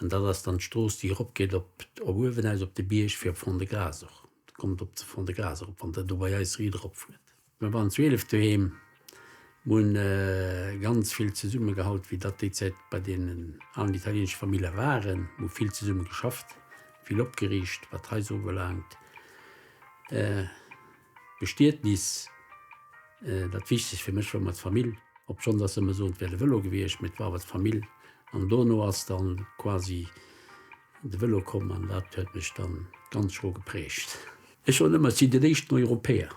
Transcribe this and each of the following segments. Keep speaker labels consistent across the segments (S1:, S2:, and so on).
S1: An dat ass dann d'Strooss, déi eropgeet op uewen aus op de Bierg, fir op Fond-de-Gras och kommt op ze Fond-de-Gras erop, wann Der do bei eis riit eropfuert. Mir waren 12 doheem, mir hunn ganz vill zesummegehallt, wéi dat déi Zäit bei deenen alen italieenesche Famille waren. Mir hu vill zesumme geschafft, vill opgeriicht, wat d'Haiser ubelaangt. Bestietnis, dat wichteg fir mech war mat Famill, obschon dass se ëmmer soen et wär de Velo gewiescht, mee et war awer d'Famill an dono ass dann quasi de Velo komm an dat huet mech dann ganz schro geprägt. Ech soen ëmmer et si den éischten Europäer.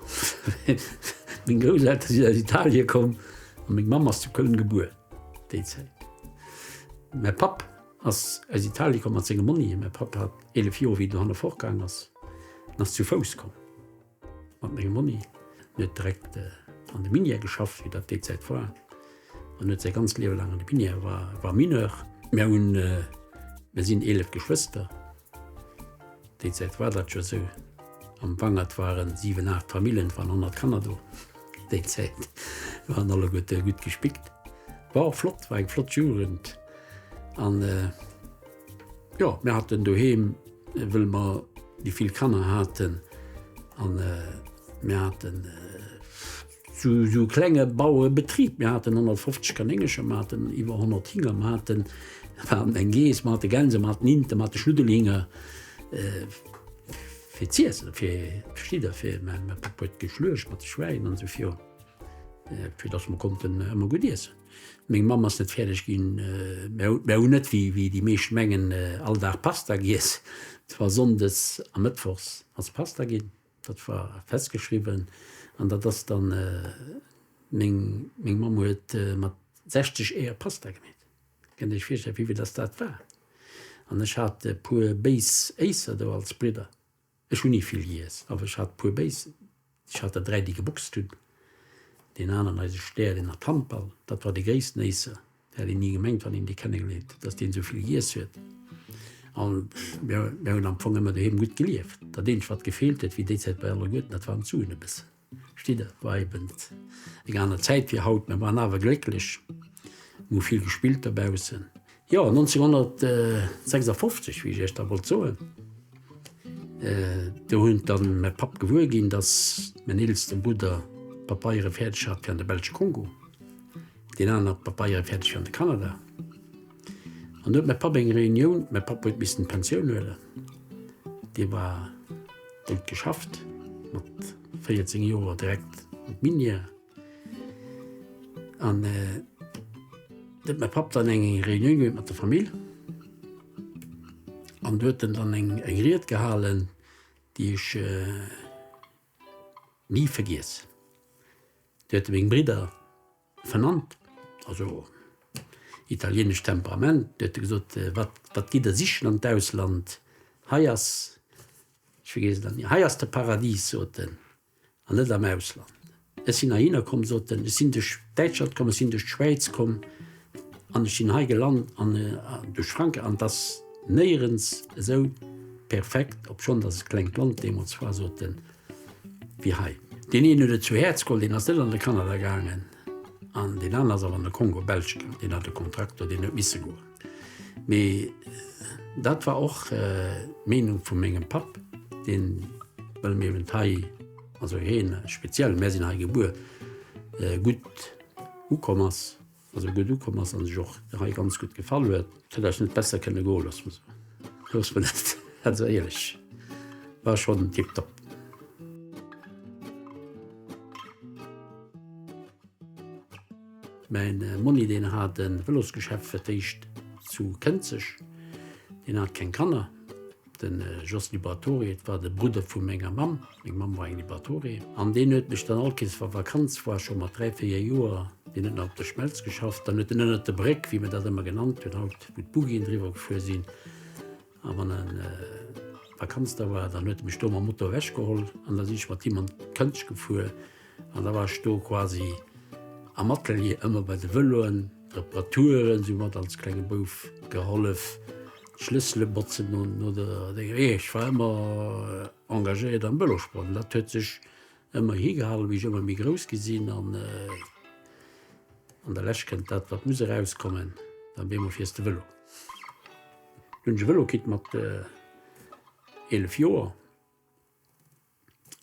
S1: Meng Grousselter sinn aus Italien komm an meng Mamm ass zu Köln gebuer déi Zäit. Mäi Papp. Ass aus Italie komm mat sengem Monni. Mäi Papp hat 11 Joer, wéi dohanne fortgaang ass, en ass zu Fouss komm mat mengem Monni. En huet direkt an de Minière geschafft, wéi dat déi Zäit war. En huet säi ganzt Liewe laang an de Minière, war Mineur. Mir sinn 11 Geschwëster. Déi Zäit war dat jo sou, am Wangert waren 7, 8 Famillen waren 100 Kanner do. Déi Zäit waren alleguerte gutt gespickt. War och flott, war eng flott Jugend an jo mir haten doheem wëll mer déi vill Kanner haten an mir haten, Zu esou klenge Bauebetrib, mir haten 150 Kanéngercher, mir haten iwwer 100 Hinger, mir haten, mir haten eng Geess, mir hate Gänse, mir haten Inten, mir hate Schnuddelhinger, fir z'iesse, fir, versteet Der, fir, mä mäi Papp huet geschluecht mat de Schwäin an esou virun, fir datt mer konnten ëmmer gutt iessen. Meng Mamm ass net fäerdeg ginn, mär hu, mär hunn net, wéi, wéi déi meescht mengen, all Dag Pasta giess. Et war sonndes a mëttwochs hat se Pasta ginn. Dat war festgeschriwwen an dat ass dann meng meng Mamm huet mat 60 Eeër Pasta gemeet. Kënnt Dir Iech virstellen wéivill dass dat war? An ech hat e puer béis Éisser do als Bridder. Ech hunn ni vill giess, awer ech hat puer béis. Ech hat der dräi déi geboxt hunn, deen aneren, eise Stär, deen hat Handball, dat war de gréissten Éisser, Dat hätt een ni gemengt, wann een dee kennengeléiert huet, dass deen esou vill giess huet. An mir hunn am Fong ëmmer doheem gutt gelieft. Dat eenzegt, wat gefeelt huet, wéi déi Zäit bei Allerguerten, dat waren d'Suen e bëssen. Versteet Der? War eben eng aner Zäit wéi haut. Mir waren awer glécklech. Mir hu vill gespillt dobaussen. Jo, 1956, wéi ech Iech da wollt soen, do hunn dann mäi Papp gewuer ginn, dass mäin eelsten Brudder d'Papeiere fäerdeg hat fir an de belsche Kongo. Deen aneren hat d'Papeiere fäerdeg an de Kanada. An do huet mäi Papp eng Reunioun, mäi Papp huet missen d'Pensioun huelen, dee war, deen huet geschafft mat 14 Joer direkt an d'Minière. An do huet mäi Papp dann eng Reunioun huet mat der Famill an do huet en dann eng Ried gehalen, déi ech. Ni vergiess, do hätte meng Bridder vernannt, also italienescht Temperament, do hätte gesot, wat, wat gitt der sichen an d'Ausland, hei ass, ech vergiess et dann ni, hei ass de Paradis, sot en, an net am Ausland. Ech sinn heihinner komm, sot en, ech sinn duerch Däitschland komm, ech sinn duerch d'Schwäiz komm. An ech sinn hei gelant an duerch Frank an dass néierens esou perfekt, obschonn dass et klengt Land deemools war, soten wéi hei. Deen een huet et zu Häerz geholl, deen ass net an de Kanada gaangen an deen aner ass awer an de Kongo belsch gaangen. Deen hat e Kontrakt do, deen huet misse goen. Mee dat war och d'Meenung vu mengem Papp, deen, well mir eben hei, also hien speziell, mär sinn hei gebuer, gutt ukomm ass. Also gutt ukomm ass an sech och hei ganz gutt gefall huet. Hätt eis net besser kënne goen loosse mer sou. Loosse mer net dat sou éierlech war schonn tip top. Mäin Monni deen hat en Vëlosgeschäft fir d'éischt zu Kënzeg. Deen hat keng Kanner. Den Jos Liberatore, et war de Brudder vu menger Mamm, meng Mamm war eng Liberatore, an deen huet mech dann all Kees, wa Vakanz war, scho mat dräi, véier Joer, deen huet nach op der Schmelz geschafft, dann huet en ënnert der Bréck, wéi mer dat ëmmer genannt hunn, haut wou d'Buggien driwwer gefuer sinn, a wann Vakanz da war, dann huet e mech do mam Moto ewechgeholl an da sinn ech mat him an d'Këntsch gefuer. An da war ech do quasi am Atelier, ëmmer bei de Vëloen, Reparaturen, si mat als klenge Bouf gehollef, d'Schlëssele botzen no der, jo, ech war ëmmer engagéiert am Vëlosport an dat huet sech ëmmer higehalen, wéi ech ëmmer méi grouss gi sinn an an der Lescht kënnt dat, wat muss erauskommen, da wier mer fierste Vëlo. Hunn ech e Vëlo kritt mat 11 Joer.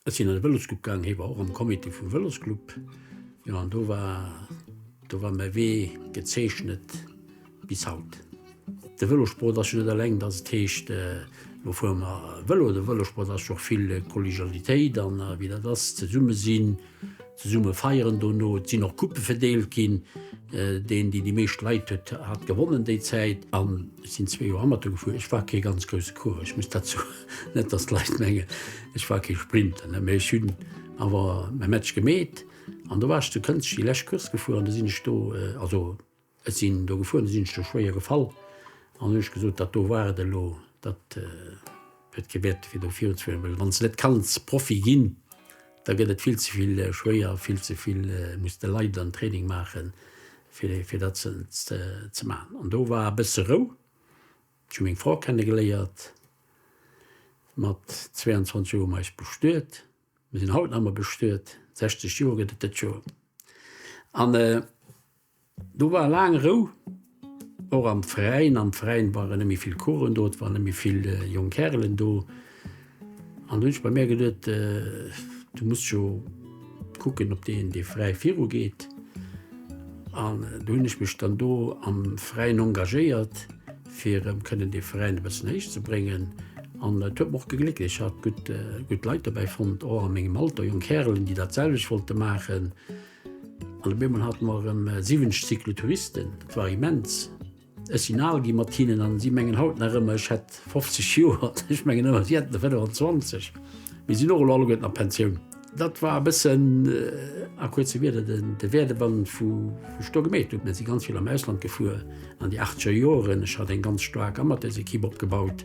S1: Ech sinn an de Vëlosclub gaangen, hie war och am Comité vum Vëlosclub. Jo an do war, do war mäi Wee gezeechnet bis haut. De Vëlosport ass jo net eleng, datt et heescht, elo fuere mer Vëlo. De Vëlosport ass jo och vill Kollegialitéit an wéi dat ass, zesumme sinn. Zesumme feieren dono. Et sinn och Coupe verdeelt ginn. Deen deen déi meescht Leit huet hat gewonnen déi Zäit. An ech sinn zwee Joer Amateur gefuer. Ech war kee ganz grousse Coureur, ech muss dat soen. Net datt d'Leit mengen ech war kee Sprinter ne, mee ech hunn awer mäi Match gemeet. An do war ech zu Kënzeg déi lescht Course gefuer an do sinn ech do also. Ech sinn do gefuer, do sinn ech do schwéier gefall an hunn ech gesot, dat do war et elo, dat huet kee Wäert fir do virunzefueren, well wann s de net kanns Profi ginn, da gëtt et vill ze vill schwéier, vill ze vill muss de leiden an Training maachen, fir dat ze maachen. An do war e bësse Rou. Ech hu meng Fra kennegeléiert, mat 22 Joer hu mer eis bestuet, mir sinn haut nach ëmmer bestuet, 60 Joer gëtt et dëst Joer an, Do war laang Rou, och am Veräin. Am Veräin waren net méi vill Coursen do, et waren net méi vill jonk Kärelen do. An du hunn ech bei mär geduet, du muss jo kucken, ob deen dee Veräi virugeet. An du hunn ech mech dann do am Veräin engagéiert, fir erëm kënnen dee Veräin e bëssen héich ze bréngen. An et huet mer och gegléckt, ech hat gutt Leit dobäi fonnt, och a mengem Alter, jonk Kärelen, déi dat selwecht wollte maachen. An op eemol hate mer erëm siwwenzeg Cyclotouristen. Et war immens. Ech sinn al gi mat hinnen an si mengen haut nach ëmmer, ech hätt 50 Joer. Ech mengen ëmmer, si hätten der 25. Mee sinn och elo alleguerten a Pensioun. Dat war e bëssen a kuerze Wieder de Werdegang vu wou ech do gemeet hunn. Mir si ganz vill am Ausland gefuer an de achtzeger Joren. Ech hat eng ganz staark Amateursekipp opgebaut.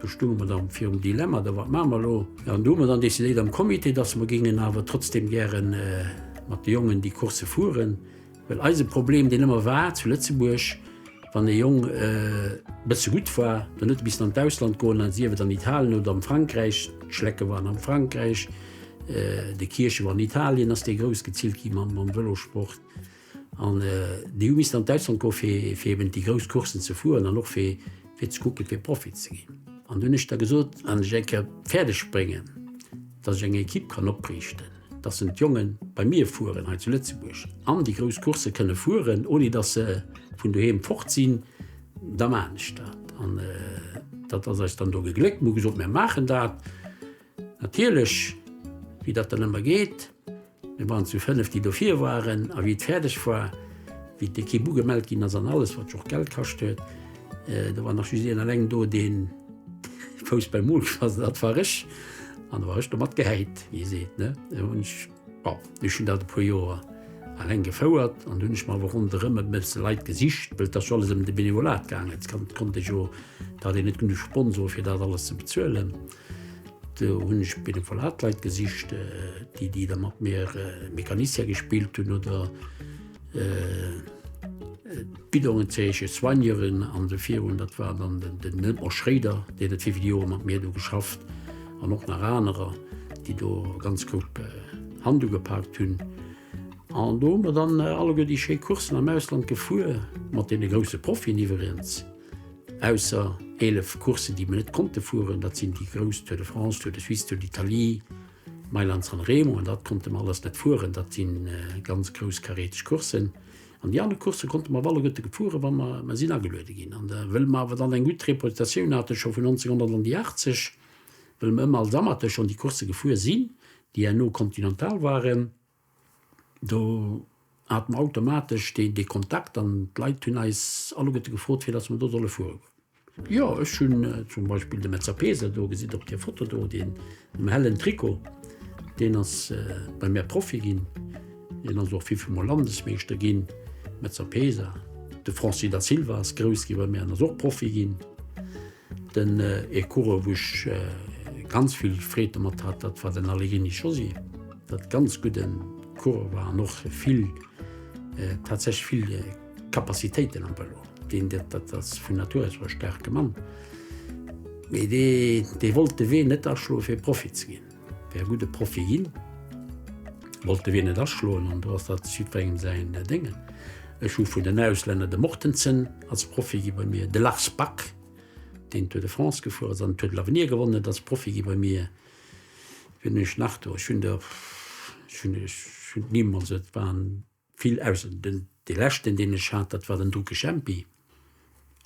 S1: Do stounge mer da virum Dilemma, da wat maache mer elo? An do hu mer dann decidéiert am Comité, datt mer géingen awer trotzdeem gäre mat de Jongen déi Coursse fueren, well eise Problem, deen ëmmer war zu Lëtzebuerg, wann e Jong e bësse gutt war, dann huet e missen an d'Ausland goen, an sief et an Italien oder am Frankräich, d'Schlecke waren am Frankräich, de Kirche war an Italien, ass dee groussgezillt gi mam Vëlosport. An déi hu missten an d'Ausland goe fir eben déi grouss Courssen ze fueren an och fir ze kucken, fir Profi ze ginn. An dunn hu ech da gesot, wann ech eng Kéier fäerdeg bréngen, datt ech eng Ekipp kann opriichten, datt se mat Jongen bei mir fueren hei zu Lëtzebuerg an déi grouss Coursse kënne fueren, ouni datt se vun doheem fort sinn, da maachen ech dat. An dat ass eis dann do gegléckt. Mir hu gesot, mir maachen dat. Natierlech, wéi dat dann ëmmer geet, mir waren zu fënneft, déi dofir waren, a wéi et fäerdeg war, wéi d'Ekipp ugemellt ginn ass an alles, wat jo och Geld kascht huet, do war nach just een eleng do, deen de Fouss beim Mol gelass huet, dat war ech, an da war ech domat gehäit, wéi ee seet, ne. Da hunn ech, bon, ech hunn dat e puer Joer eleng gefouert an dunn hunn ech mer awer ronderëm e bësse Leit gesicht, well et ass jo alles ëm de Benevolat gaangen, et konnt ee jo, et hat een net genuch Sponsore fir dat alles ze bezuelen. Do hunn ech benevolat Leit gesicht, déi déi da mat mir Mecanicien gespillt hunn oder d'Bidongen zeechen, Soigneuren an de virun. Dat war dann den Edmond Schréider, deen huet vill, vill Joer mat mir do geschafft an och nach anerer, déi do ganz grouss Hand ugepaakt hunn. An do hu mer dann alleguer déi schéi Courssen am Ausland gefuer, mat deene grousse Profien iwweregens. Ausser 11 Courssen, déi mer net konnte fueren, dat sinn déi grouss Tour de France, Tour de Suisse, Tour d'Italie, Mailand-San Remo, an dat konnte mer alles net fueren, dat si ganz grouss karäteg Courssen. An déi aner Coursse konnte mer op alle guerte fueren, wa mer mer sinn ageluede ginn. An da wëlle mer awer dann eng gutt Reputatioun haten, scho vun 1900 an déi 80, wëlle mer ëmmer als Amateur schonn déi Coursse gefuer sinn, déi herno continental waren. Do hat mer automatesch dee dee Kontakt an d'Leit hunn eis alleguerte gefrot, fir datt mer do solle fuere goen. Jo, ech hunn zum Beispill de Metzer Peeser do gesitt op där Foto do, deen am hellen Trikot. Deen ass bei mär Profi ginn. Hien ass och vifel Mol Landesmeeschter ginn, Metzer Peeser. De Francis Da Silva ass grouss gi bei mär an ass och Profi ginn. Den ee Coureur wou ech ganz vill Freed domat hat, dat war den Allegrini Josy, dat ganz gudden Coureur war an och vill tatsächlech vill Capacitéiten am Vëlo, deen dat ass vun Natur aus e staarke Mann, mee dee wollt de Wee net aschloe fir Profi ze ginn. Wär gudd e Profil, wollt de Wee net aschloen an do ass dat jiddwerengem säin Déngen. Ech hu vun den Auslänner de Mortensen als Profi gi bei mir, de Lars Bak, deen d'Tour de France gefuer ass an den Tour de l'Avenir gewonnen huet, ass Profi gi bei mir. Wien hunn ech nach do? Ech hunn der, ech hunn, ech hunn d'Nimm, also et waren. Vill Ausseën. Den dee leschten deen ech hat dat war den Duke Jempi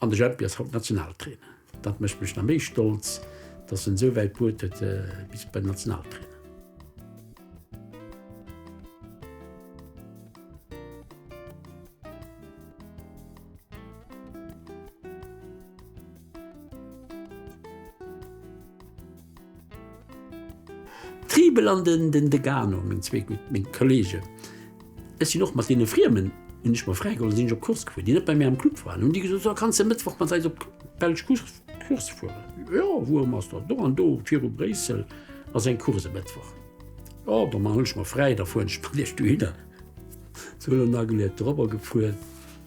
S1: an de Jempi ass haut Nationaltrainer. Dat mécht mech nach méi stolz dass en esou wäit bruet huet bis bei den Nationaltrainer. D'Triebel an den den Degano, meng zwee gutt, meng Kollegen, ech sinn och mat deene Friemen, hunn ech mer fräigeholl a sinn ech op d'Course gefuer, déi net bei mir am Club waren. Hunn déi gesot, So, kanns de Mëttwoch mat eis op d'belsch Course fueren? Jo, wouerëm ass dat? Do an do, viru Bréissel ass eng Course e Mëttwoch. Jo, da man ech mer fräi, da fueren ech mat iech dohinner. Sou, elo nageluet, dorobber gefuer.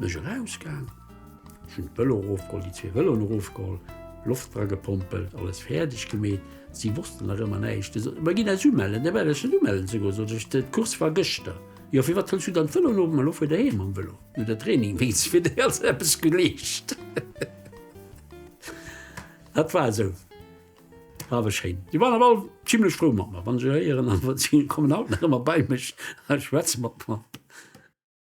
S1: Sin ech eraus gaang, hun d'Velo erofgeholl, déi zwee Veloen erofgeholl, Loft dra gepompelt, alles fäerdeg gemeet. Si wossten nach ëmmer näischt. Di soten, Mä ginn eis umellen. Mä well ech net umellen ze goen, sot ech, d'Course war gëschter. Jo, firwat hëls du dann d'Velo elo op? Mä elo fuer der heem mam Velo, no der Training wéinst fir déi also eppes geleescht. Dat war esou awer schéin. Déi waren awer all zimlech frou mat mer, wann ech eréieren. Si kommen haut nach ëmmer bei mech a schwätze mat mer.